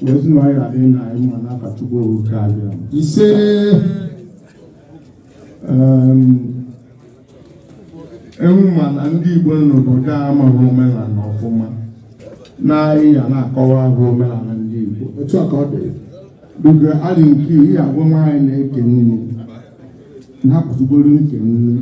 ezinụlọ anyị na-adị na anyị ma n'afa Chukwu oge abịa ise ewu ma na ndị Igbo n'obodo a amaghị omenala ọfụma na anyị ya na-akọwara ha omenala ndị Igbo otu a ka ọ dị duga adị nke ihe agwa nwaanyị na-eke nne na-apụtụgoro nke nne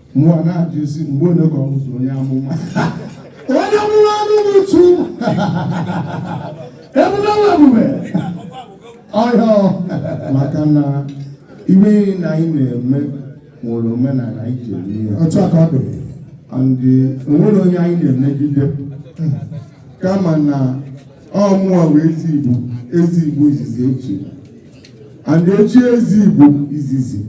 mụwa na-ajụ isi mgbe onye ka ọ bụzi onye amụma onye amụma anụghị uchu ebube nwa ebube ọhịa maka na ihe na anyị na-eme nwere omenala anyị ji eme ya otu a ka ọ dị and o nwero onye anyị na-emegide kama na ọ mụwa wụ eze Igbo eze Igbo izizi e chi and e chie eze Igbo izizi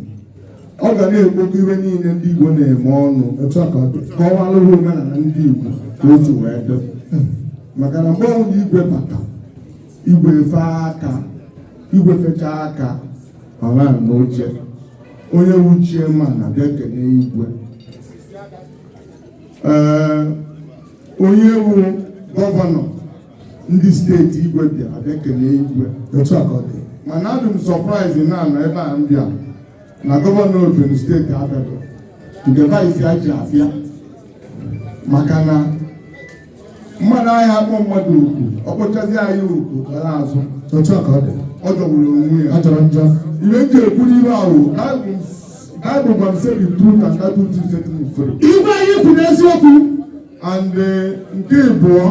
ọ ga na-ekpokọ ihe niile ndị Igbo na-eme ọnụ etu a ka ọ dị kọwalụ ha omenala ndị Igbo ka o si wee dị maka na mgbe ọbụla igwe bata igwe fe aka igwe fecha aka ọ nọ n'oche onye wu chiifu ma na bịa kene igwe ee onye wu gọvanọ ndị steeti igwe bịa a bịa kelee igwe otu a ka ọ dị mana adị m sọpraịzi na anọ ebe a m bịa na gọvanọ Ogun steeti abịaro nke vaịsị ya ji abịa maka na mmadụ anaghị akpọ mmadụ oku ọ kpọchazi ya oku gara azụ otu a ka ọ dị ọ jọgburu onwe ya ọ jọrọ njọ ihe m ji ekwu ihe a wụ Bible gwara m say the truth and that truth will set you free. Igwe anyị kwuru eziokwu and eh, nke ịbụọ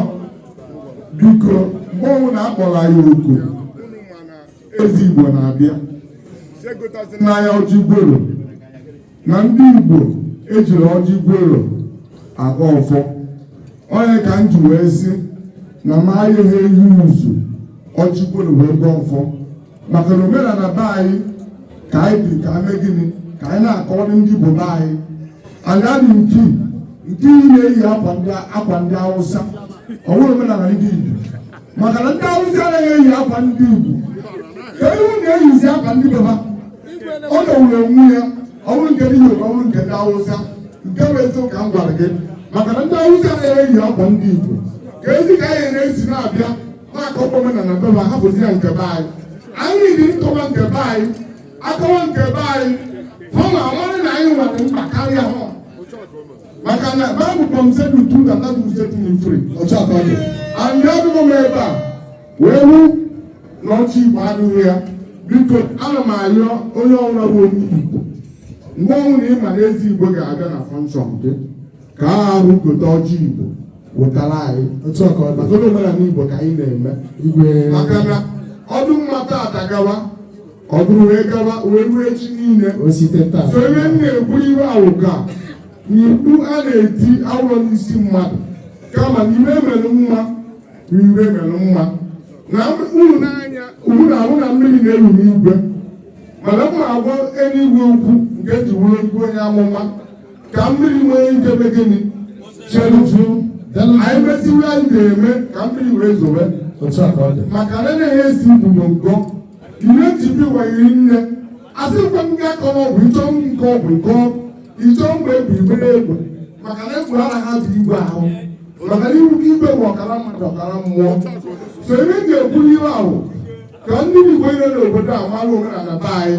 biko mgbe ọbụla a kpọrọ anyị oku unu ma na eze Igbo na-abịa egotazịna ya ọjị gworo na ndị igbo ejiro ọjị gworo agọ ọfọ ọ ya ka m ji wee sị na m ayaghị eyuuzu ọjị gworo wee gọọ ọfọ maka na omenala be anyị ka anyị bi ka ame gịnị ka anyị na-akọrọ ndị Igbo be anyị anyị adị nke nke iyi na-eyi akwa ndị Awụsa ọ bụro omenala ndị Igbo maka na ndị Awụsa anaghị eyi akwa ndị Igbo ka unu na-eyizi akwa ndị be ha ọ jọgburu onwe ya ọ bụrụ nke ndị Yoruba ọ bụrụ nke ndị Awụsa nke bụ eziokwu ka m gwara gị maka na ndị Awụsa anaghị eyi akwa ndị Igbo keezi ka anyị ya-esi na-abịa na-akọ omenala be ha hapụzia nke be anyị anyị dị nkọwa nke be anyị akọwa nke be anyị hụ na ọmarị na anyị nwere mkpa karịa ha maka na baịbụl gwa m say the truth and that truth set you free ọcha atọ dị and anọdụ m ebe a wee hụ na ọjị Igbo adịghị ya biko ana m arịọ onye ọbụla bụ onye igbo mgbe ọbụla ị ma na eze Igbo ga-abịa na fọnshọn gị ka a arụ gote ọjị igbo wetara anyị otu ọka ọ maka omenala igbo ka anyị na-eme igwe maka na ọ dị mma tata gawa ọ bụrụ wee gawa wee ruo echi niile osite taa so ebe m na-ekwu ihe ahụ ka mkpu a na-eti awụrọ n'isi mmadụ kama na ihe mere mma na ihe mere mma na unu n'anya unu na-ahụ na mmiri na-eru n'igwe mana m na-agwa eluigwe okwu nke ji wụrụ igwe onye amụma ka mmiri nwee ike mee gịnị chelu anyị mesịa anyị ga-eme ka mmiri wee zowe maka na na esi ibubo ngọ ihe njibi wayiri nne asị nkwe m ga akọ n'ọgwụ ịchọ nke ọgwụ nke ịchọ mgbe egwu ibere egwu maka na egwu ara ha bụ igwe ahụ maka na iwu igwe bụ ọkara mmadụ ọkara mmụọ so ebe m ga-ekwuru ihe ahụ ka ndị igwe ire n'obodo a mara omenala be anyị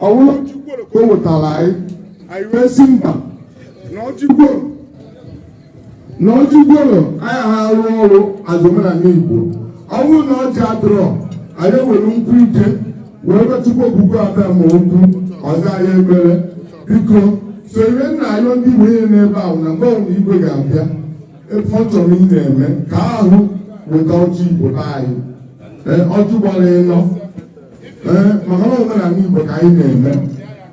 ọ bụrụ ọjị gworo o wetara anyị anyị wee sị mba na ọjị gworo na ọjị gworo ayaha arụ ọrụ n'omenala igbo ọ bụrụ na ọjị adịrọ anyị ewere nkwụ ike wee gwa chukwu okike abịama okwu ọzọ anyị ebere biko sonyere nna anyị ndị igbo ihe n'ebe ahụ na mgbe ọbụla igwe ga-abịa ebe ọ chọrọ ị na-eme ka ahụ weta ọjị igbo be anyị ọjị gbara ịnọ ee maka na omenala Igbo ka anyị na-eme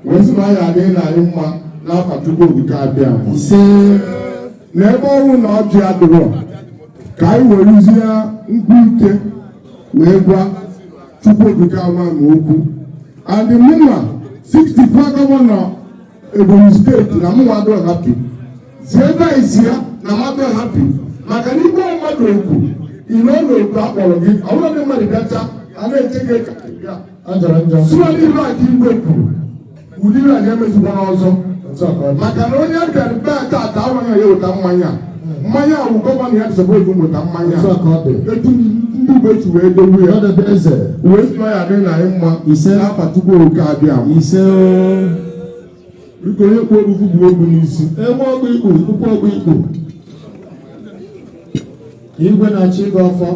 wee sị na ọ ya adịrị anyị mma n'afa Chukwu Okike abịama ise na ebe ọ wụ na ọjị adịrọ ka anyị werezie nkwụ ike wee gwa Chukwu Okike abịama okwu and mụnwa 64 gọvanọ Ebonyi steeti na mụnwa adịrọ happy zie ebe anyị si ya na m adịrọ happy maka na igwe mmadụ okwu ire ọrụ oku a kpọrọ gị ọ bụrụ ndị mmadụ bịachaa a na-eche gị ka ajara njọ sụọ n'ihu a ka igwe kwuru ụdị ihe a emezikwana ọzọ maka na onye bịara be a taata ọ wụ ya ya-eweta mmanya mmanya ahụ gọvanọ ya dịsọbụ ego weta mmanya etu ndị igbo si wee dowe ya wee sị na ọ ya-adịrị anyị mma ise n'afa chukwu okike abịama ise biko onye kwu ogbugbu bụ ogbu n'isi enwe ọgwụ ikpu tupu ọgwụ ikpu igwe na-achị gị ọfọ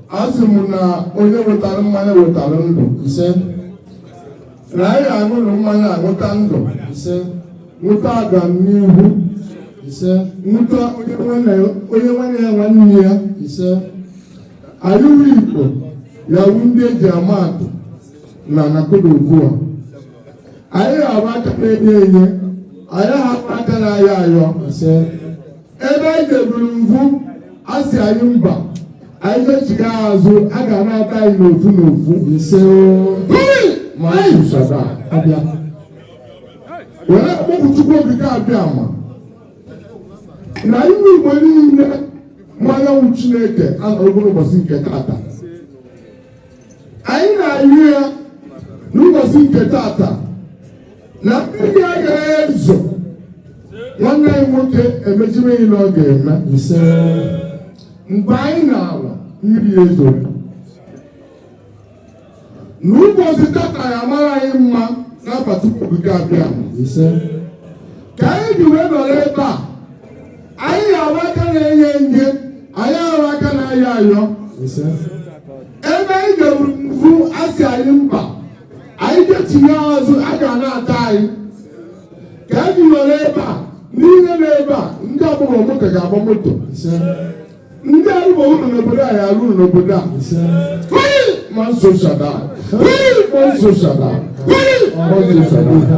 a sị m na onye wetara mmanya wetara ndụ ise na anyị aṅụrụ mmanya aṅụta ndụ ise ṅụta agamnihu ise ṅụta onye nwanne ya nwanne ya ise anyị wụ igbo ya-awụ ndị e ji ama atụ na nakodo ugbu a anyị ga-awụ aka na-enye enye anyị ayaha abụ aka na-ayọ ayọ ise ebe anyị deburu mvu a sị anyị mba anyị echigha azụ a ga na-ata anyị n'ofu n'ofu ise ma anyị zụsaba abịa were kpọkuo chukwu okike abịama na iwu igbo niile mmanyanwụ chineke anọrọgo n'ụbọchị nke tata anyị na-ayọ ya n'ụbọchị nke tata na mmiri agaghị ezo nwanne anyị nwoke emecha ihe niile ọ ga-eme ise mgbe anyị na-ala mmiri ezoo n'ụbọchị tata ya mara anyị mma n'afa chukwu okike abịama ise ka anyị ji wee nọrọ ebe a anyị ga-abụ aka na-enye enye anyị abụ aka na-ayọ ayọ ebe anyị ga-eburu mvu asị anyị mba anyị ga-etinye azụ a ga na-ata anyị ka anyị ji nọrọ ebe a n'ihe na ebe a ndị agbarọ moto ga-agba moto ndị arụba ụlọ n'obodo a ya arụ ụlọ n'obodo a ma nso shada ma nso shada ma nso shada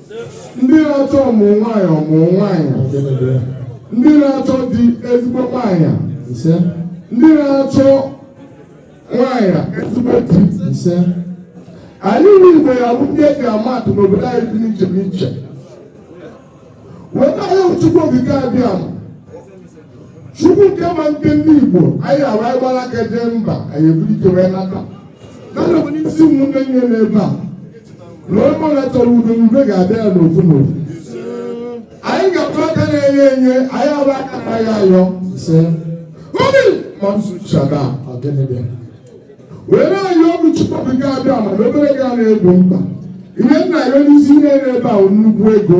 ndị na-achọ ọmụ nwaanyị ọmụ nwaanyị ndị na-achọ di ezigbo nwaanyị ise ndị na-achọ nwaanyị ezigbo di ise anyị nwe igbo ya bụ ndị eji ama atụ n'obodo anyị dị n'iche n'iche wee na-ayọ chukwu okike abịama chukwu nke ma nke ndị igbo anyị abụ anyị gbara aka jee mba anyị eburu ike wee nata Mana bụ n'isi ụmụnne nye n'ebe a na onye ọbụla chọrọ udo udo ga-abịa ya n'ofu n'ofu anyị ga-abụ aka na-enye enye anyị abụ aka na-ayọ ayọ ise obi mamsu shada anyị ji bịa wee na-ayọkwu chukwu okike abịama na obere ga na-egbo mkpa ihe anyị na-ayọ n'isi niile ebe a nnukwu ego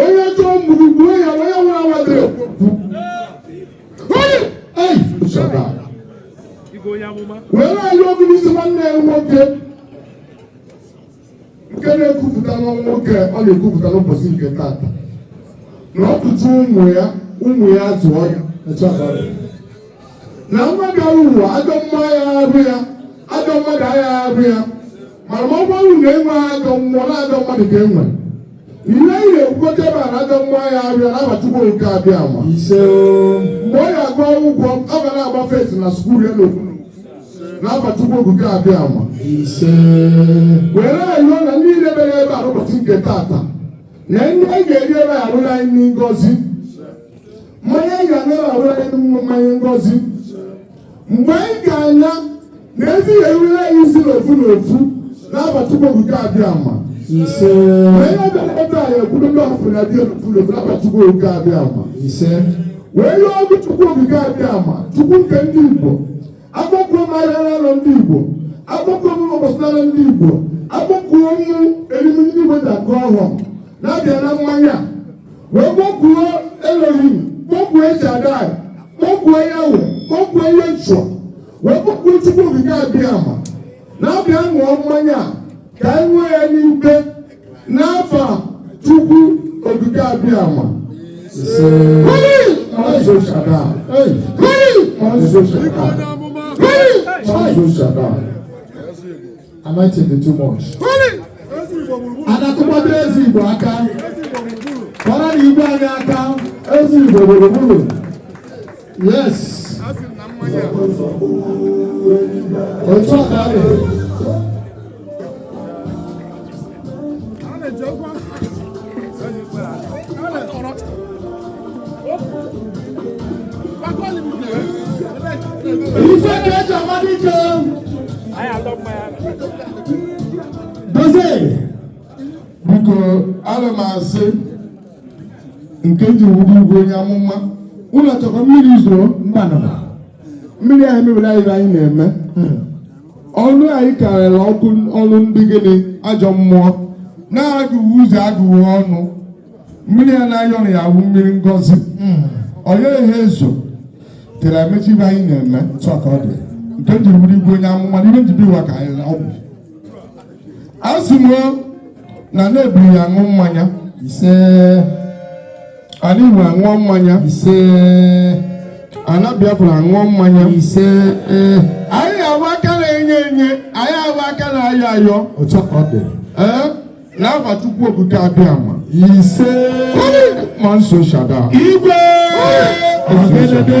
onye chọọ mgburu gbuo ya onye nwere awadịrị ekwu onye ei shọta were na-ayọkwu n'isi nwanne ya nwoke nke na-ekwupụta nwa nwoke ọ na-ekwupụta n'ụbọchị nke tata na ọ zụchaa ụmụ ya ụmụ ya zụọ ya etu a ka ọ dị. na nwa bịara ụwa ajọ mmụọ ya afụ ya ajọ mmadụ aga afụ ya mana ma ọ bụrụ na enwe ajọ mmụọ na ajọ mmadụ ka enwe ihe anyị na-ekwukọta ebe a na ajọ mmụọ ya afụ ya n'afa chukwu okike abịama ise o mgbe ọ ga-agụ akwụkwọ ọ ga na-agba first na skuul ya n'okwu n'afa chukwu okike abịama ise were ayọ na ndị niile bịara ebe a n'ụbọchị nke tata na nri a ga-eri ebe a ya abụ naanị ngozi mmanya anyị ga-aṅụ ya abụrụ anyị mmanya ngozi mgbe anyị ga-aṅụ ya na ezi ya erule anyị isi n'ofu n'ofu n'afa chukwu okike abịama ise onye bịara ebe a ya ekwuru ndị ọfụrụ na bịa n'ofu n'ofu n'afa chukwu okike abịama ise wee yọkuo chukwu okike abịama chukwu nke ndị igbo akpọkuo m ahịa naanọ ndị Igbo akpọkuo m ụbọchị naanọ ndị Igbo akpọkuo m orimiri ndị Igbo ji agọ ọfọ na-abịa ṅụọ mmanya wee kpọkuo Elohim kpọkuo El Shaddai kpọkuo Yahweh kpọkuo Yeshua wee kpọkuo Chukwu okike abịama na-abịa ṅụọ mmanya ka anyị nwee ya n'ibe n'afa Chukwu Okike Abịama Anointing dị too much. A na-akụkwadoro Eze Igbo aka. Kpọrọ na Igbo anyị aka. Eze Igbo gburugburu. Yes. Otu a ka ọ dị. Ife ka eji ama dike. Dozie. Biko, ana m asị nke m ji wụrụ igwe onye amụma ụlọ chọkwa mmiri zoro mbanụ mmiri anyị mebiri anyị anyị na-eme ọnụ anyị karịrị ọkụ ọnụ ndị gịnị ajọ mmụọ na-agụghị ụzọ agụghị ọnụ mmiri ya na-ayọ na ya wụ mmiri ngozi onye ihe ezo tere emechi ife anyị na-eme otu a ka ọ dị nke m jiri wụrụ igwe onye amụma n'ihe njibi ụwa ka anyị ọgwụ a sị m na ana Hebrew aṅụọ mmanya ise ana Igbo aṅụọ mmanya ise ana Biafra aṅụọ mmanya ise anyị abụ aka na-enye enye anyị abụ aka na-ayọ ayọ otu ọ dị ee n'afa Chukwu Okike Abịama ise ma nso shada igwe ọgedede